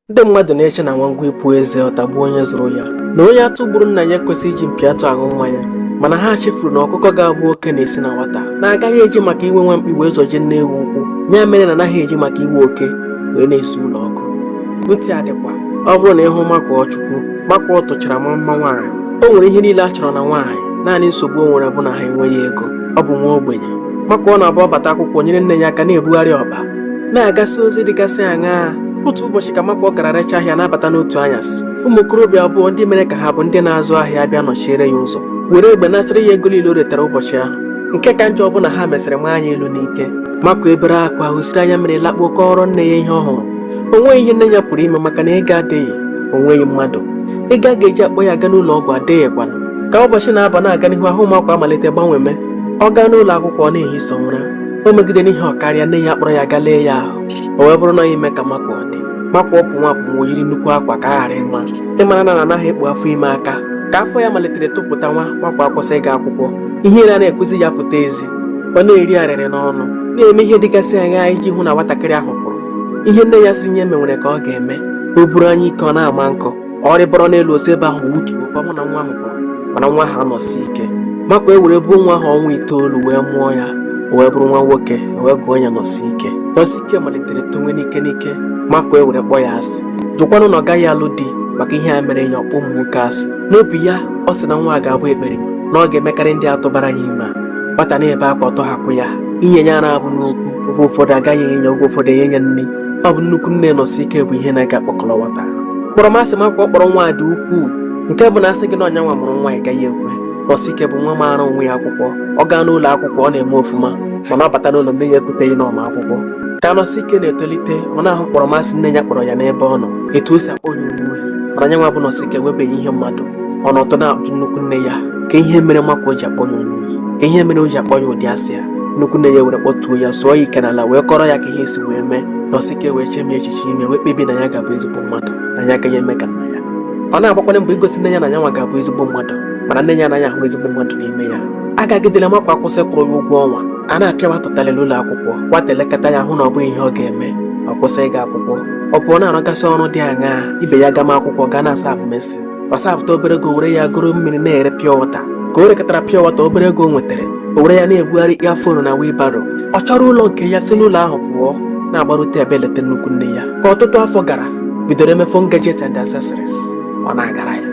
ndị mmadụ na-eche na nwa ngwa ipu eze ọ tagbuo onye zụrụ ya na onye atụ gburu nna ya ekwesịghị iji mpi atụ aṅụ mmanya mana ha chefuru na ọkụkọ ga-abụ oke na-esi na nwata na a gaghị eji maka iwe nwa mkpi wee zọjie nne ewu ụkwụ ya mere na anaghị eji maka iwe oke wee na-esi ụlọ ọkụ ntị adịkwa ọ bụrụ na ị hụ makụọchukwu makụọ tochara maa mma nwaanyị o nwere ihe niile a chọrọ na nwaanyị naanị nsogbu o nwere bụ na ha enweghị ego ọ bụ nwa ogbenye makụọ na-abụ ọ bata akwụkwọ nyere nne ya aka na-ebugharị ọkpa na-agasị ozi dịgasị aṅaa otu ụbọchị ka makụọ gara rechaa ahịa na-abata n'otu anyasị ụmụ okorobịa abụọ ndị mere ka ha bụ ndị na-azụ ahịa bịa nọchiere ya ụzọ were egbe nasịrị ya ego niile o retara ụbọchị ahụ nke ka njọ bụ na ha mesịrị rịa ya elu n'ike makụọ ebere akwa hụsiri anya mmiri lakpuo kọọrọ nne ya ihe ọ hụrụ o nweghị ihe nne ya pụrụ ime maka na ego adịghị o nweghị mmadụ ego a ga-eji akpọ ya aga n'ụlọ ọgwụ adịghịkwanụ ka ụbọchị na-aba na-aga n'ihu ahụ makụọ amalite gbanweme ọ gaa n'ụlọ akwụkwọ ọ na-ehi sọ ụra o megide n'ihe ọ karịa nne ya kpọrọ ya gaa lee ya ahụ o wee bụrụ na ime ka makụọ dị makụọ pụnwa apụnwa o yiri nnukwu akwa ka a ghara ịma ị mara na na anaghị ekpu afọ ime aka ka afọ ya malitere topụtanwa makụọ akwụsị ịga akwụkwọ ihere anaghị ekwezi ya pụta ezi ọ na-eri arịrị n'ọnụ na-eme ihe dịgasị aṅaa iji hụ na nwatakịrị ahụ pụrụ ihe nne ya sịrị ya mee nwere ka ọ ga-eme o buru anyịike ọ na-awa nkụ ọ rigoro n'elu o si ebe ahụ wụtuo ka ọ hụ na nwa ahụ pụrụ mana nwa ahụ anọsi ike makụọ ewere buo nwa ahụ ọnwa itoolu wee mụọ ya o wee bụrụ nwa nwoke e wee gụọ ya nọsike nọsike malitere tonwe n'ike n'ike makụọ ewere kpọọ ya asị jụkwanụ na ọ gaghị alụ di maka ihe a mere ya ọ kpọ ụmụ nwoke asị n'obi ya ọ sị na nwa a ga-abụ ekperima na ọ ga-emekarị ndị a tụbara ya ime a. nwata na-ebe akwa ọ tọhapụ ya inye ya ara abụrụ okwu oge ụfọdụ agaghị enye ya oge ụfọdụ enye ya nri ọ bụ nnukwu nne nọsike bụ ihe na-aga kpọkọrọ nwata kpọrọmasị makụọ kpọrọ nwa dị ukwuu nke bụ na a sị gị na ọ nyanwa mụrụ nwa a ị gaghị ekwe nọsike bụ nwa maara onwe ya akwụkwọ ọ gaa n'ụlọ akwụkwọ ọ na-eme ọfụma mana ọ bata n'ụlọ nne ya ekweteghị na ọ ma akwụkwọ ka nọsike na-etolite ọ na-ahụ kpọrọmasị nne ya kpọrọ ya n'ebe ọ nọ etu o si akpọ ya onye ohi mana nyanwa bụ nọsike ewebeghị ihe mmadụ ọ nọtụ na-ajụ nnukwu nne ya ka ihe mere makụọ ji akpọ ya onye ohi ka ihe mere o ji akpọ ya ụdị asị ya nnukwu nne ya were kpọtuo ya sụọ ya ike n'ala wee kọrọ ya ka ihe si wee mee nọsike wee chemie echiche ime wee kpebie na ya ga-abụ ezigbo mmadụ na ya agaghị eme ka nna ya ọ na-agbakwanye mbọ igosi nne ya na yanwa ga-abụ ezigbo mmadụ mana nne ya anaghị ahụ ezigbo mmadụ n'ime ya agagidela makụọ akwụsị ịkwụrụ ya ụgwọ ọnwa a na-apịa ya ụtalị n'ụlọ akwụkwọ nwata elekata ya hụ na ọ bụghị ihe ọ ga-eme ọ kwụsị ịga akwụkwọ ọ pụọ na-arụgasị ọrụ dị aṅaa ibe ya gama akwụkwọ gaa na-asavụ mason ọ safụta obere ego were ya goro mmiri na-ere pure water ka o rekọtara pure water obere ego o nwetara o were ya na-ebugharị earphone na wheelbarrow ọ chọrọ ụlọ nke ya si n'ụlọ ahụ pụọ na-agbarute abịa eleta nnukwu nne ya ka ọtụtụ afọ gara bidoro eme phone gadget and accessories ọ na-agara ya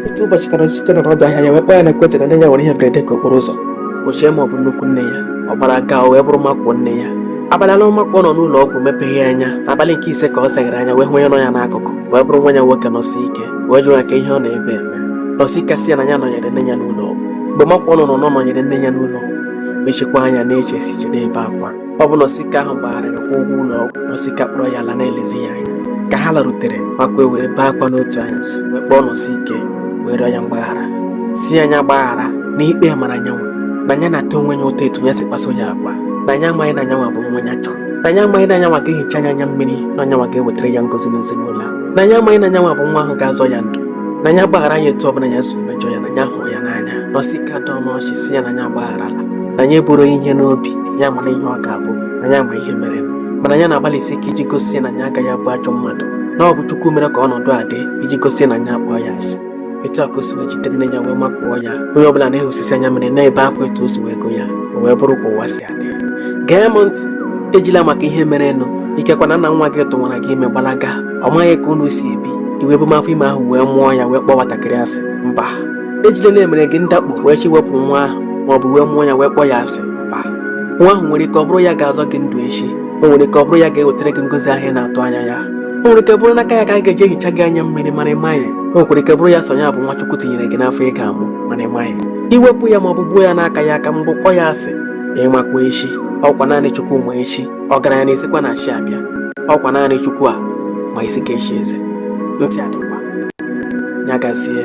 otu ụbọchị ka Nọsike nọ n'ọdụ ahịa ya wee kpọọ ya na ekwentị na nne ya nwere ihe mberede nke okporo ụzọ o chee ma ọ bụ nnukwu nne ya ọ gbara gaa o wee bụrụ Makụọ nne ya abalị anọ Makụọ nọ n'ụlọ ọgwụ mepeghị anya n'abalị nke ise ka ọ seghere anya wee hụ onye nọ ya n'akụkụ wee bụrụ nwa ya nwoke Nọsike wee jụọ ya kee ihe ọ nọ ebe a eme Nọsike asị ya na ya nọnyere nne ya n'ụlọ ọgwụ mgbe Makụọ nụrụ nọnyere nne ya n'ụlọ mechikwa anya na-eche echiche na-ebe akwa ọ bụ Nọsike ahụ gbagharịrị kwụọ ụgwọ ụlọ ọgwụ Nọsike akpọrọ ya laa na-elezi ya anya ka ha larutere Makụọ ewere bee akwa n'otu anyasị wee kpọọ Nọsike wee rịọ ya mgbaghara sị ya nya gbaghara na ikpe mara nyanwa na ya na-ata onwe ya ụta etu ya si kpaso ya agwa na ya amaghị na nyanwa bụ nwa ya chọrọ na ya amaghị na nyanwa ga-ehicha nya anya mmiri na nyanwa ga-ewetara ya ngozi n'ezinụlọ a na ya amaghị na nyanwa bụ nwa ahụ ga-azọ ya ndụ na ya gbaghara ya etu ọbụla ya si mejọ ya na ya hụrụ ya n'anya Nọsike adaa n'ọchị sị ya na ya gbagharala na ya eburu ihe n'obi ya mara ihe ọ ga-abụ na ya ma ihe merenụ mana ya na-agbalịsi ike iji gosi ya na ya agaghị abụ ajọ mmadụ na ọ bụ Chukwu mere ka ọnọdụ a dị iji gosi ya na ya akpọọ ya asị etu a ka o si wee jide nne ya wee makụọ ya onye ọbụla na-ehusisi anya mmiri na-ebe akwa etu o si wee go ya o wee bụrụ ka ụwa si adị gee m ntị ejila maka ihe merenụ ikekwa na nna nwa gị tụwara gị ime gbalaga ọ maghị ka unu si ebi i wee buma afọ ime ahụ wee mụọ ya wee kpọọ nwatakịrị asị mba ejila na e mere gị ndakpo wee chee iwepụ nwa ahụ ma ọ bụ wee mụọ ya wee kpọọ ya asị mba nwa ahụ nwere ike ọ bụrụ ya ga-azọ gị ndụ echi o nwere ike ọ bụrụ ya ga-ewetara gị ngozi ahụ ị na-atụ anya ya o nwere ike bụrụ n'aka ya ka a ga-eji ehicha gị anya mmiri mana ị maghị o nwekwara ike bụrụ ya sọ nya bụ nwa Chukwu tinyere gị n'afọ ị ga-amụ mana ị maghị i wepụ ya ma ọ bụ gbuo ya n'aka ya aka ma ọ bụ kpọọ ya asị ị makwa echi ọkwa naanị Chukwu ma echi ọgaranya na-esikwa na chi abịa ọkwa naanị Chukwu ma isi ga-echi eze ntị adịkwa ya gazie